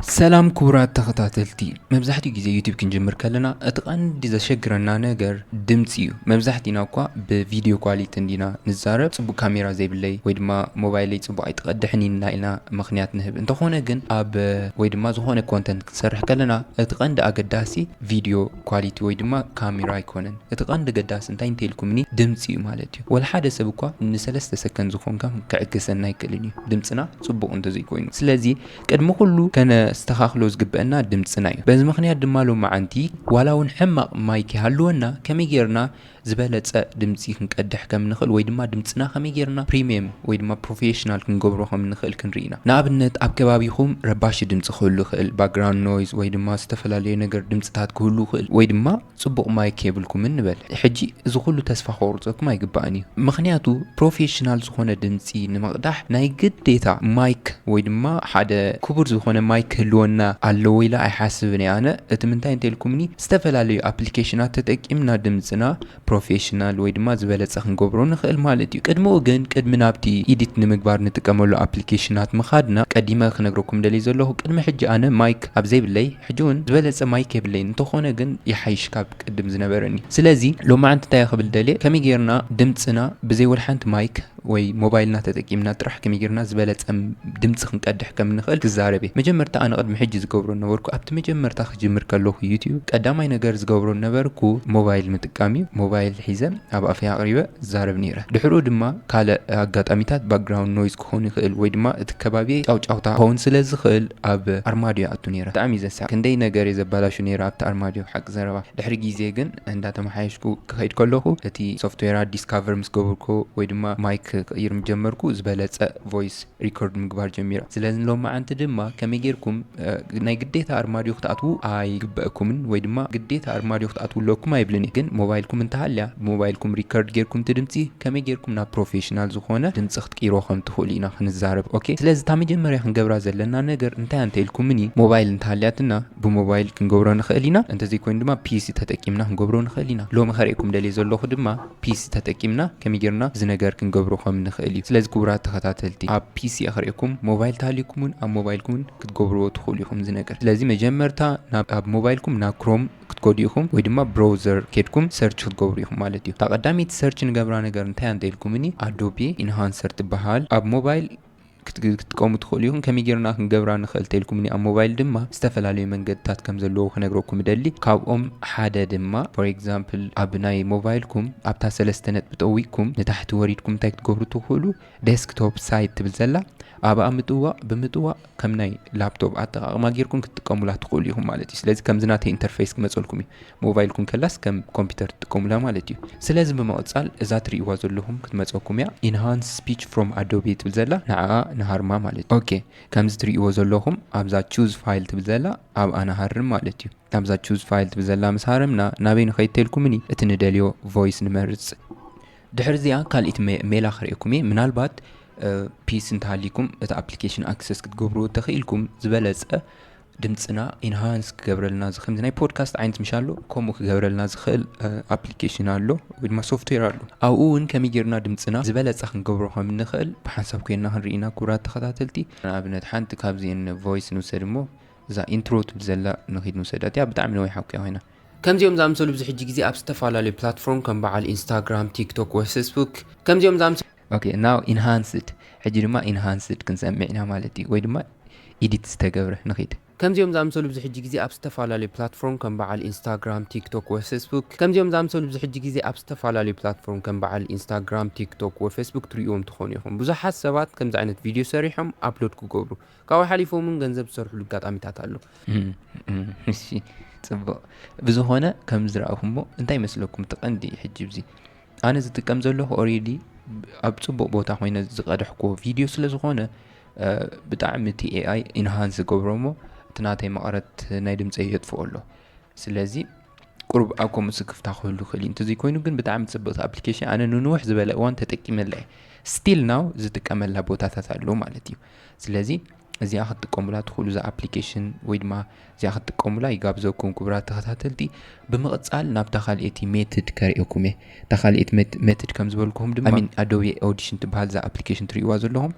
ሰላም ክቡራት ተኸታተልቲ መብዛሕትኡ ግዜ ዩቲብ ክንጅምር ከለና እቲ ቀንዲ ዘሸግረና ነገር ድምፂ እዩ መብዛሕቲና እኳ ብቪድዮ ኳሊቲ እንዲና ንዛረብ ፅቡቅ ካሜራ ዘይብለይ ወይ ድማ ሞባይለይ ፅቡቅ ኣይትቀድሕን ኢና ኢልና ምኽንያት ንህብ እንተኾነ ግን ኣብ ወይ ድማ ዝኾነ ኮንተንት ክንሰርሕ ከለና እቲ ቀንዲ ኣገዳሲ ቪድዮ ኳሊቲ ወይ ድማ ካሜራ ኣይኮነን እቲ ቀንዲ ገዳሲ እንታይ እንተይልኩምኒ ድምፂ እዩ ማለት እዩ ወልሓደ ሰብ እኳ ንሰለስተ ሰከንድ ዝኾንካ ክዕገሰና ኣይክእልን እዩ ድምፅና ፅቡቅ እንተዘይኮይኑ ስለዚ ቅድሚ ኩሉ ከነስተኻኽሎ ዝግበእና ድምጽና እዩ። በዚ ምኽንያት ድማ ሎምዓንቲ ዋላ እውን ሕማቕ ማይክ ይሃልወና ከመይ ጌርና ዝበለጸ ድምጺ ክንቀድሕ ከም እንኽእል ወይ ድማ ድምጽና ከመይ ጌርና ፕሪምየም ወይ ድማ ፕሮፌሽናል ክንገብሮ ከም እንኽእል ክንርኢ ኢና። ንኣብነት ኣብ ከባቢኹም ረባሺ ድምጺ ክህሉ ይኽእል፣ ባክግራውንድ ኖይዝ ወይ ድማ ዝተፈላለየ ነገር ድምጽታት ክህሉ ይኽእል ወይ ድማ። ጽቡቕ ማይክ የብልኩምን ንበል ሕጂ እዚ ኩሉ ተስፋ ከቑርጸኩም ኣይግባእን እዩ ምኽንያቱ ፕሮፌሽናል ዝኾነ ድምጺ ንምቕዳሕ ናይ ግዴታ ማይክ ወይ ድማ ሓደ ክቡር ዝኾነ ማይክ ክህልወና ኣለዎ ኢለ ኣይሓስብን እየ ኣነ እቲ ምንታይ እንተልኩምኒ ዝተፈላለዩ ኣፕሊኬሽናት ተጠቂምና ድምጽና ፕሮፌሽናል ወይ ድማ ዝበለጸ ክንገብሮ ንኽእል ማለት እዩ ቅድምኡ ግን ቅድሚ ናብቲ ኢዲት ንምግባር ንጥቀመሉ ኣፕሊኬሽናት ምኻድና ቀዲመ ክነግረኩም ደልየ ዘለኹ ቅድሚ ሕጂ ኣነ ማይክ ኣብ ዘይብለይ ሕጂ ውን ዝበለጸ ማይክ የብለይን እንተኾነ ግን ይሓይሽ ካብ ቅድም ዝነበረኒ ስለዚ ሎማዓንቲ እንታይ ክብል ደልየ ከመይ ጌርና ድምጽና ብዘይ ወልሓንቲ ማይክ ወይ ሞባይልና ተጠቂምና ጥራሕ ከመይ ጌርና ዝበለጸ ድምጺ ክንቀድሕ ከም ንኽእል ክዛረብ እየ መጀመርታ ኣነ ቅድሚ ሕጂ ዝገብሮ ነበርኩ ኣብቲ መጀመርታ ክጅምር ከለኹ ዩቱብ ቀዳማይ ነገር ዝገብሮ ነበርኩ ሞባይል ምጥቃም እዩ ሞባይል ሒዘ ኣብ ኣፈይ ኣቅሪበ ዝዛረብ ኔረ ድሕርኡ ድማ ካልእ ኣጋጣሚታት ባክግራውንድ ኖይዝ ክኸውን ይኽእል ወይ ድማ እቲ ከባቢየይ ጫውጫውታ ክኸውን ስለ ዝኽእል ኣብ ኣርማድዮ ይኣቱ ኔረ ብጣዕሚ ዘስሕቕ ክንደይ ነገርየ ዘባላሹ ኔረ ኣብቲ ኣርማድዮ ሓቂ ዘረባ ድሕሪ ግዜ ግን እንዳ ተመሓየሽኩ ክኸይድ ከለኹ እቲ ሶፍትዌራት ዲስካቨር ምስ ገበርኩ ወይ ድማ ማይክ ክቕይር ምስ ጀመርኩ ዝበለጸ ቮይስ ሪኮርድ ምግባር ጀሚረ ስለዚ ሎምዓንቲ ድማ ከመይ ጌርኩም ናይ ግዴታ ኣርማድዮ ክትኣትዉ ኣይግበእኩምን ወይ ድማ ግዴታ ኣርማድዮ ክትኣትዉ ኣለኩም ኣይብልን እየ ግን ሞባይልኩም እንተሃልያ ብሞባይልኩም ሪከርድ ጌርኩም እቲ ድምጺ ከመይ ጌርኩም ናብ ፕሮፌሽናል ዝኾነ ድምጺ ክትቅይሮ ከም ትኽእሉ ኢና ክንዛረብ ኦኬ ስለዚ እታ መጀመርያ ክንገብራ ዘለና ነገር እንታይ ኣንተ ኢልኩምኒ ሞባይል እንተሃልያትና ብሞባይል ክንገብሮ ንኽእል ኢና እንተዘይኮይኑ ድማ ፒሲ ተጠቂምና ክንገብሮ ንኽእል ኢና ሎሚ ከርእየኩም ደልየ ዘለኹ ድማ ፒሲ ተጠቂምና ከመይ ጌርና እዚ ነገር ክንገብሮ ከም ንኽእል እዩ። ስለዚ ክቡራት ተኸታተልቲ ኣብ ፒሲ እየ ክርእየኩም ሞባይል ተሃልዩኩም ውን ኣብ ሞባይልኩም ውን ክትገብርዎ ትኽእሉ ኢኹም እዚ ነገር። ስለዚ መጀመርታ ናብ ኣብ ሞባይልኩም ናብ ክሮም ክትከዱ ኢኹም ወይ ድማ ብሮውዘር ኬድኩም ሰርች ክትገብሩ ኢኹም ማለት እዩ። እታ ቀዳመይቲ ሰርች ንገብራ ነገር እንታይ እያ እንተ ኢልኩምኒ ኣዶቤ ኢንሃንሰር ትበሃል ኣብ ሞባይል ክትጥቀሙ ትኽእሉ ኢኹም። ከመይ ጌርና ክንገብራ ንኽእል ተልኩምኒ ኣብ ሞባይል ድማ ዝተፈላለዩ መንገድታት ከም ዘለዎ ክነግረኩም እደሊ። ካብኦም ሓደ ድማ for example ኣብ ናይ ሞባይልኩም ኣብታ ሰለስተ ነጥቢ ጠዊቕኩም ንታሕቲ ወሪድኩም እንታይ ክትገብሩ ትኽእሉ Desktop Site ትብል ዘላ ኣብኣ ምጥዋቕ ብምጥዋቕ ከም ናይ ላፕቶፕ ኣጠቓቕማ ጌርኩም ክትጥቀሙላ ትኽእሉ ኢኹም ማለት እዩ። ስለዚ ከምዚ ናተይ ኢንተርፈይስ ክመጸልኩም እዩ። ሞባይል ኩንከላስ ከም ኮምፒተር ትጥቀሙላ ማለት እዩ ስለዚ ብምቅጻል እዛ ትሪእዋ ዘለኹም ክትመጸኩም እያ ኢንሃንስ ስፒች ፍሮም ኣዶቤ ትብል ዘላ ንዓኣ ንሃርማ ማለት እዩ ኦኬ ከምዚ ትሪእዎ ዘለኹም ኣብዛ ቹዝ ፋይል ትብል ዘላ ኣብኣ ንሃርም ማለት እዩ ኣብዛ ቹዝ ፋይል ትብል ዘላ ምስ ሃረምና ናበይ ንኸይድ ተልኩምኒ እቲ ንደልዮ ቮይስ ንመርጽ ድሕሪ እዚኣ ካልኢት ሜላ ክርእየኩም እየ ምናልባት ፒስ እንተሃሊኩም እቲ ኣፕሊኬሽን ኣክሰስ ክትገብርዎ ተኽኢልኩም ዝበለጸ ድምጽና ኢንሃንስ ክገብረልና ዝኽእል ናይ ፖድካስት ዓይነት ምሽ ኣሎ ከምኡ ክገብረልና ዝኽእል ኣፕሊኬሽን ኣሎ ወይ ድማ ሶፍትዌር ኣሎ ኣብኡ እውን ከመይ ጌርና ድምፅና ዝበለፀ ክንገብሮ ከም እንኽእል ብሓንሳብ ኮይና ክንርኢና ክቡራት ተኸታተልቲ ንኣብነት ሓንቲ ካብዚን ቮይስ ንውሰድ እሞ እዛ ኢንትሮ ትብል ዘላ ንኺድ ንውሰዳ እቲኣ ብጣዕሚ ነዊሓ ኩያ ኮይና ከምዚኦም ዝኣምሰሉ ብዙ ሕጂ ግዜ ኣብ ዝተፈላለዩ ፕላትፎርም ከም በዓል ኢንስታግራም ቲክቶክ ወይ ፌስቡክ ከምዚኦም ዝኣምሰሉ ኦኬ ናው ኢንሃንስድ ሕጂ ድማ ኢንሃንስድ ክንሰምዕ ኢና ማለት እዩ ወይ ድማ ኢዲት ዝተገብረ ንኺድ። ከምዚኦም ዝኣምሰሉ ኣብዚ ሕጂ ግዜ ኣብ ዝተፈላለዩ ፕላትፎርም ከም በዓል ኢንስታግራም ቲክቶክ ወይ ፌስቡክ ከምዚኦም ዝኣምሰሉ ኣብዚ ሕጂ ግዜ ኣብ ዝተፈላለዩ ፕላትፎርም ከም በዓል ኢንስታግራም ቲክቶክ ወይ ፌስቡክ ትርእይዎም ትኾኑ ኢኹም ብዙሓት ሰባት ከምዚ ዓይነት ቪድዮ ሰሪሖም ኣፕሎድ ክገብሩ ካብኡ ሓሊፎም እውን ገንዘብ ዝሰርሕሉ ኣጋጣሚታት ኣሎ እሺ ጽቡቕ ብዝኾነ ከም ዝረኣኹሞ እንታይ ይመስለኩም እቲ ቀንዲ ሕጂ እዚ ኣነ ዝጥቀም ዘለኹ ኦሬዲ ኣብ ፅቡቅ ቦታ ኮይነ ዝቀደሕክዎ ቪድዮ ስለ ዝኾነ ብጣዕሚ እቲ ኤኣይ ኢንሃንስ ዝገብሮ እሞ እቲ ናተይ መቐረት ናይ ድምፀይ የጥፍኦ ኣሎ ስለዚ ቁሩብ ኣብ ከምኡ ስክፍታ ክህሉ ክእል እዩ እንተዘይኮይኑ ግን ብጣዕሚ ፅብቕቲ ኣፕሊኬሽን ኣነ ንንውሕ ዝበለ እዋን ተጠቂመላ እየ ስቲል ናው ዝጥቀመላ ቦታታት ኣሎ ማለት እዩ ስለዚ እዚኣ ክትጥቀሙላ ትኽእሉ እዛ ኣፕሊኬሽን ወይ ድማ እዚኣ ክትጥቀሙላ ይጋብዘኩም ክቡራት ተኸታተልቲ ብምቕጻል ናብታ ካልኤቲ ሜትድ ከርእየኩም እየ እታ ካልኤት ሜትድ ከም ዝበልኩኹም ድማ ሚን ኣዶቢ ኦዲሽን ትበሃል እዛ ኣፕሊኬሽን ትርእይዋ ዘለኹም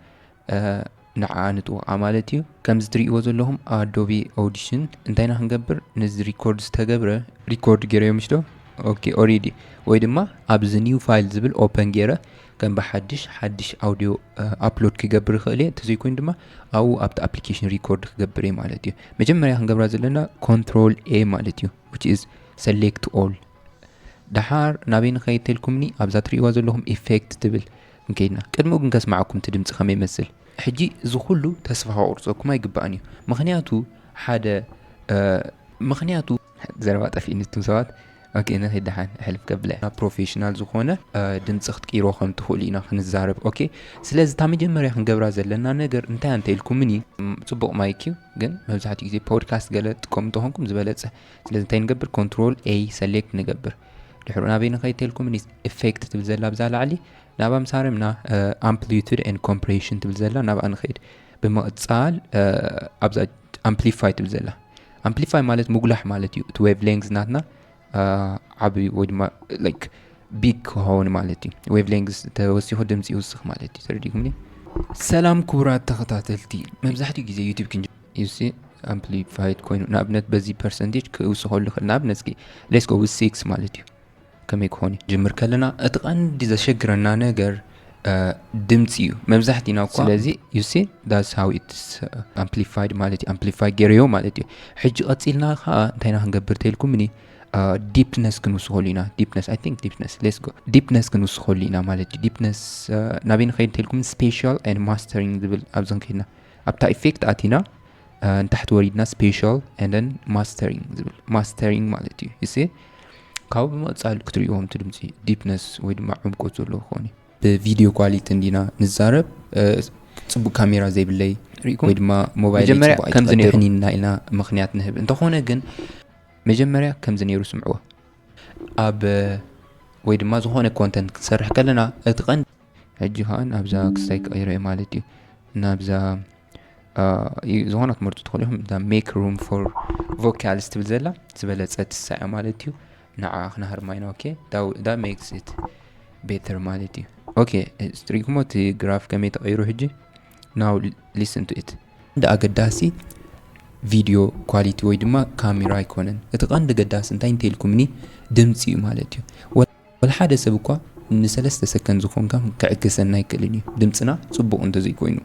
ንዓኣ ንጥወቓ ማለት እዩ ከምዚ ትርእይዎ ዘለኹም ኣዶቢ ኦዲሽን እንታይና ክንገብር ነዚ ሪኮርድ ዝተገብረ ሪኮርድ ገይረዮ ምሽ ዶ ኦኬ ኦሬዲ ወይ ድማ ኣብዚ ኒው ፋይል ዝብል ኦፐን ገይረ ከም ብሓድሽ ሓድሽ ኣውድዮ ኣፕሎድ ክገብር ይኽእል እየ እንተዘይኮይኑ ድማ ኣብኡ ኣብቲ ኣፕሊኬሽን ሪኮርድ ክገብር እየ ማለት እዩ መጀመርያ ክንገብራ ዘለና ኮንትሮል ኤ ማለት እዩ ዊች ኢዝ ሰሌክት ኦል ድሓር ናበይ ንኸይድ ተልኩምኒ ኣብዛ ትርእዋ ዘለኹም ኢፌክት ትብል ንከይድና ቅድሚኡ ግን ከስማዓኩም እቲ ድምፂ ከመይ ይመስል ሕጂ እዚ ኩሉ ተስፋ ከቁርፀኩም ኣይግባእን እዩ ምክንያቱ ሓደ ምክንያቱ ዘረባ ጠፊእኒ እቱም ሰባት ኦኬ ንኺድ ደሓን ሕልፍ ከብለ ናብ ፕሮፌሽናል ዝኾነ ድምፂ ክትቅይሮ ከም ትኽእሉ ኢና ክንዛረብ ኦኬ ስለዚ እታ መጀመርያ ክንገብራ ዘለና ነገር እንታይ እንተ ኢልኩምኒ ፅቡቕ ማይክ እዩ ግን መብዛሕትኡ ግዜ ፖድካስት ገለ ትጥቀሙ እንተኾንኩም ዝበለፀ ስለዚ እንታይ ንገብር ኮንትሮል ኤ ሰሌክት ንገብር ድሕሩ ናበይ ንኸይ ተልኩምኒ ኢፌክት ትብል ዘላ ብዛ ላዕሊ ናብኣ ምሳርምና ኣምፕሊቱድ ን ኮምፕሬሽን ትብል ዘላ ናብኣ ንኸይድ ብምቕፃል ኣብዛ ኣምፕሊፋይ ትብል ዘላ ኣምፕሊፋይ ማለት ምጉላሕ ማለት እዩ እቲ ዌቭ ሌንግዝ ናትና ዓብዩ ወይ ድማ ላይክ ቢግ ክኸውን ማለት እዩ ዌቭ ሌንግዝ ተወሲኹ ድምፂ ይውስኽ ማለት እዩ ተረዲኹምኒ ሰላም ክቡራት ተኸታተልቲ መብዛሕትኡ ግዜ ዩቲብ ክንጅ ዩሲ ኣምፕሊፋይድ ኮይኑ ንኣብነት በዚ ፐርሰንቴጅ ክውስኸሉ ይኽእል ንኣብነት እስኪ ሌስኮ ብ ሲክስ ማለት እዩ ከመይ ክኾን እዩ? ጅምር ከለና እቲ ቀንዲ ዘሸግረና ነገር ድምፂ እዩ መብዛሕቲና እኳ ስለዚ ዩሲ ዳስ ሃው ኢትስ ኣምፕሊፋይድ ማለት እዩ ኣምፕሊፋይ ገይረዮ ማለት እዩ ሕጂ ቀፂልና ከዓ እንታይና ክንገብር ተልኩምኒ ዲፕነስ ክንውስኸሉ ኢና ዲፕነስ ኣይ ቲንክ ዲፕነስ ሌስ ጎ ዲፕነስ ክንውስኸሉ ኢና ማለት እዩ ዲፕነስ ናበይ ንኸይድ እንተልኩም ስፔሻል ን ማስተሪንግ ዝብል ኣብዚ ክንከድና ኣብታ ኢፌክት ኣቲና ንታሕቲ ወሪድና ስፔሻል ን ማስተሪንግ ዝብል ማስተሪንግ ማለት እዩ እስ ካብኡ ብምቕፃል ክትሪእዎም እቲ ድምፂ ዲፕነስ ወይ ድማ ዕምቆት ዘለዎ ክኾን እዩ ብቪድዮ ኳሊቲ እንዲና ንዛረብ ፅቡቅ ካሜራ ዘይብለይ ወይ ድማ ሞባይልይፅቡቅይትቀድሕኒና ኢልና ምክንያት ንህብ እንተኾነ ግን መጀመርያ ከምዚ ነይሩ ስምዕዎ ኣብ ወይ ድማ ዝኾነ ኮንተንት ክትሰርሕ ከለና እቲ ቀን ሕጂ ከዓን ኣብዛ ክስታይ ክቀይረ ማለት እዩ ናብዛ ዝኾነ ክትመርጡ ትኽእሉ ኢኹም እታ ሜክ ሩም ፎር ቮካልስ ትብል ዘላ ዝበለፀ ትሳያ ማለት እዩ ንዓ ክንሃርማ ኢና ኦኬ ዳ ሜክስ ኢት ቤተር ማለት እዩ ኦኬ ስትሪግሞ እቲ ግራፍ ከመይ ተቐይሩ ሕጂ ናው ሊስን ቱ ኢት እንደ ኣገዳሲ ቪድዮ ኳሊቲ ወይ ድማ ካሜራ ኣይኮነን እቲ ቀንዲ ገዳሲ እንታይ እንተይልኩምኒ ድምፂ እዩ ማለት እዩ ወላ ሓደ ሰብ እኳ ንሰለስተ ሰከንድ ዝኾንካ ክዕግሰና ኣይክእልን እዩ ድምጽና ጽቡቕ እንተዘይኮይኑ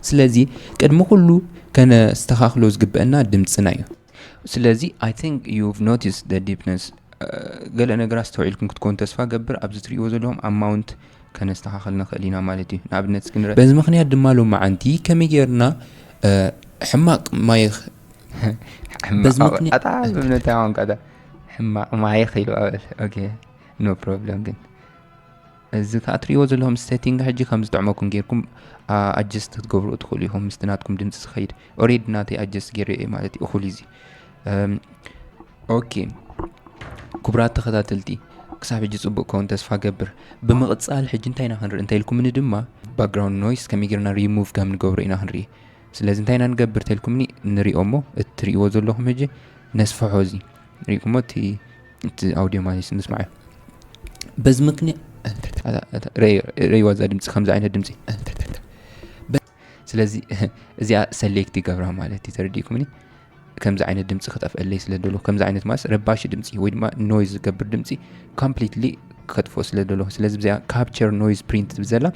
ስለዚ ቅድሚ ኩሉ ከነስተኻኽሎ ዝግበአና ድምጽና እዩ። ስለዚ I think you've noticed the deepness ገለ ነገራት ኣስተውዒልኩም ክትኮኑ ተስፋ እገብር ኣብዚ ትርእይዎ ዘለኹም amount ከነስተኻኽል ንኽእል ኢና ማለት እዩ ንኣብነት እስኪ ንርእ በዚ ምኽንያት ድማ ሎማዓንቲ ከመይ ጌርና ሕማቕ ማይኽ ሕማቕ ኣታ ብምንታይ ቋንቋ እታ ሕማቕ ማይ ኺሉ ኣበል ኦኬ ኖ ፕሮብለም ግን እዚ ከዓ ትሪእዎ ዘለኹም ሴቲንግ ሕጂ ከም ዝጥዕመኩም ጌርኩም ኣጀስት ክትገብሩ ትኽእሉ ኢኹም ምስቲ ናትኩም ድምፂ ዝኸይድ ኦሬድ ናተይ ኣጀስት ገይረ እየ ማለት እዩ እኹል እዚ ኦኬ ክቡራት ተኸታተልቲ ክሳብ ሕጂ ፅቡቅ ከውን ተስፋ ገብር ብምቕፃል ሕጂ እንታይ ኢና ክንርኢ እንታይ ኢልኩምኒ ድማ ባክግራውንድ ኖይስ ከመይ ጌርና ሪሙቭ ከም ንገብሮ ኢና ክንርኢ ስለዚ እንታይ ኢና ንገብር ተልኩምኒ ንሪኦ እሞ እቲ ትሪእዎ ዘለኹም ህጂ ነስፍሖ እዚ ሪእኩሞ እቲ እቲ ኣውዲዮ ማለት እዩ ምስማዕ በዚ ምክንያት ረይዋ እዛ ድምፂ ከምዚ ዓይነት ድምፂ ስለዚ እዚኣ ሰሌክት ይገብራ ማለት እዩ ተረዲእኩምኒ ከምዚ ዓይነት ድምፂ ክጠፍአለይ ስለ ደሎ ከምዚ ዓይነት ማለት ረባሺ ድምፂ ወይ ድማ ኖይዝ ዝገብር ድምፂ ኮምፕሊትሊ ከጥፎ ስለ ደሎ ስለዚ ብዚኣ ካፕቸር ኖይዝ ፕሪንት ትብል ዘላ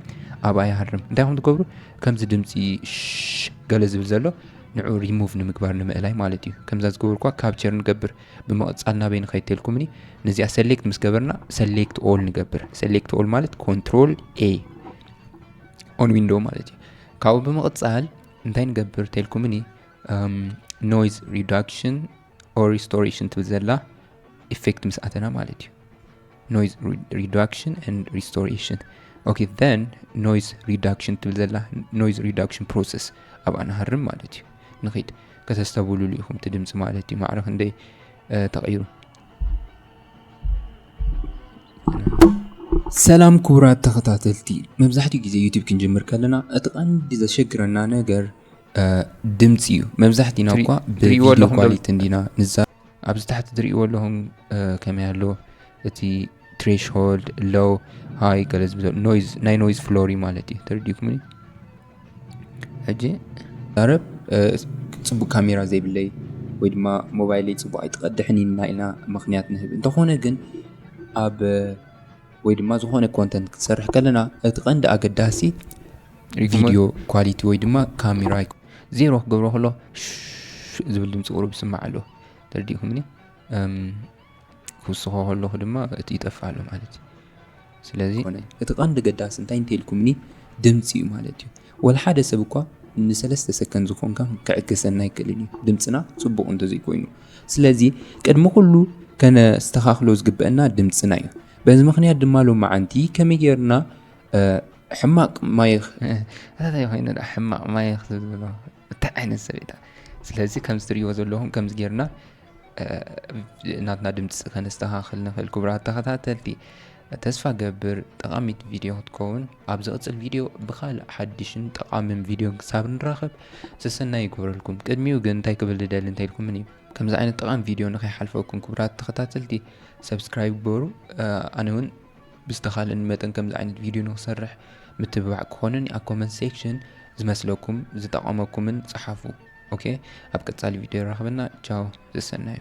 ኣብኣ ይሃርም እንታይ ከም ትገብሩ ከምዚ ድምፂ ገለ ዝብል ዘሎ ንዑ ሪሙቭ ንምግባር ንምእላይ ማለት እዩ ከምዛ ዝገበርኳ ካፕቸር ንገብር ብምቕፃል ናበይ ንኸይድ ተልኩምኒ ነዚኣ ሰሌክት ምስ ገበርና ሰሌክት ኦል ንገብር ሰሌክት ኦል ማለት ኮንትሮል ኤ ኦን ዊንዶ ማለት እዩ ካብኡ ብምቕፃል እንታይ ንገብር ተልኩምኒ ኖይዝ ሪዳክሽን ኦር ሪስቶሬሽን ትብል ዘላ ኢፌክት ምስ ኣተና ማለት እዩ ኖይዝ ሪዳክሽን ን ሪስቶሬሽን ኦኬ ን ኖይዝ ሪዳክሽን ትብል ዘላ ኖይዝ ሪዳክሽን ፕሮሰስ ኣብኣ ንሃርም ማለት እዩ ንኽድ ከተስተብሉሉ ኢኹም እቲ ድምፂ ማለት እዩ ማዕረ ክንደይ ተቐይሩ ሰላም ክቡራት ተኸታተልቲ መብዛሕትኡ ግዜ ዩቱብ ክንጅምር ከለና እቲ ቀንዲ ዘሸግረና ነገር ድምጺ እዩ መብዛሕቲና እኳ ብቪዲዮ ኳሊቲ እንዲና ንዛ ኣብዚ ታሕቲ ትሪእዎ ኣለኹም ከመይ ኣሎ እቲ ትሬሽሆልድ ሎው ሃይ ገለ ዝብዘ ኖይዝ ናይ ኖይዝ ፍሎሪ ማለት እዩ ተረዲኩምኒ ሕጂ ዛረብ ፅቡቅ ካሜራ ዘይብለይ ወይ ድማ ሞባይለይ ፅቡቅ ኣይትቀድሕን ኢና ኢና ምክንያት ንህብ እንተኾነ ግን ኣብ ወይ ድማ ዝኾነ ኮንተንት ክትሰርሕ ከለና እቲ ቀንዲ ኣገዳሲ ቪድዮ ኳሊቲ ወይ ድማ ካሜራ ዜሮ ክገብሮ ከሎ ዝብል ድምፂ ቁሩብ ይስማዕ ኣሎ ተረዲእኩምኒ ክውስኾ ከለኹ ድማ እቲ ይጠፍእ ኣሎ ማለት እዩ ስለዚ እቲ ቀንዲ ገዳሲ እንታይ እንተይልኩምኒ ድምፂ እዩ ማለት እዩ ወላ ሓደ ሰብ እኳ ንሰለስተ ሰከንድ ዝኾንካ ክዕገሰና ይክእልን እዩ ድምፅና ፅቡቕ እንተዘይኮይኑ ስለዚ ቅድሚ ኩሉ ከነስተኻኽሎ ዝግበአና ድምፅና እዩ በዚ ምክንያት ድማ ሎመዓንቲ ከመይ ጌርና ሕማቅ ማይኽ ኣታታይ ኮይኑ ዳ ሕማቅ ማይኽ ዝብሎ እንታይ ዓይነት ሰብ እዩ ስለዚ ከምዚ ትሪእዎ ዘለኹም ከምዚ ጌርና ናትና ድምፂ ከነስተኻኽል ንኽእል ክቡራት ተኸታተልቲ ተስፋ ገብር ጠቃሚት ቪድዮ ክትከውን ኣብ ዝቕፅል ቪድዮ ብካልእ ሓድሽን ጠቃምን ቪድዮ ክሳብ ንራኸብ ሰሰናይ ይግበረልኩም ቅድሚኡ ግን እንታይ ክብል ዝደሊ እንተኢልኩምን እዩ ከምዚ ዓይነት ጠቃሚ ቪድዮ ንከይሓልፈኩም ክቡራት ተኸታተልቲ ሰብስክራይብ ግበሩ ኣነ እውን ብዝተኻለኒ መጠን ከምዚ ዓይነት ቪድዮ ንክሰርሕ ምትብባዕ ክኾነኒ ኣብ ኮመንት ሴክሽን ዝመስለኩም ዝጠቐመኩምን ጸሓፉ ኦኬ ኣብ ቀጻሊ ቪድዮ የራኽበና ቻው ዘሰናዩ።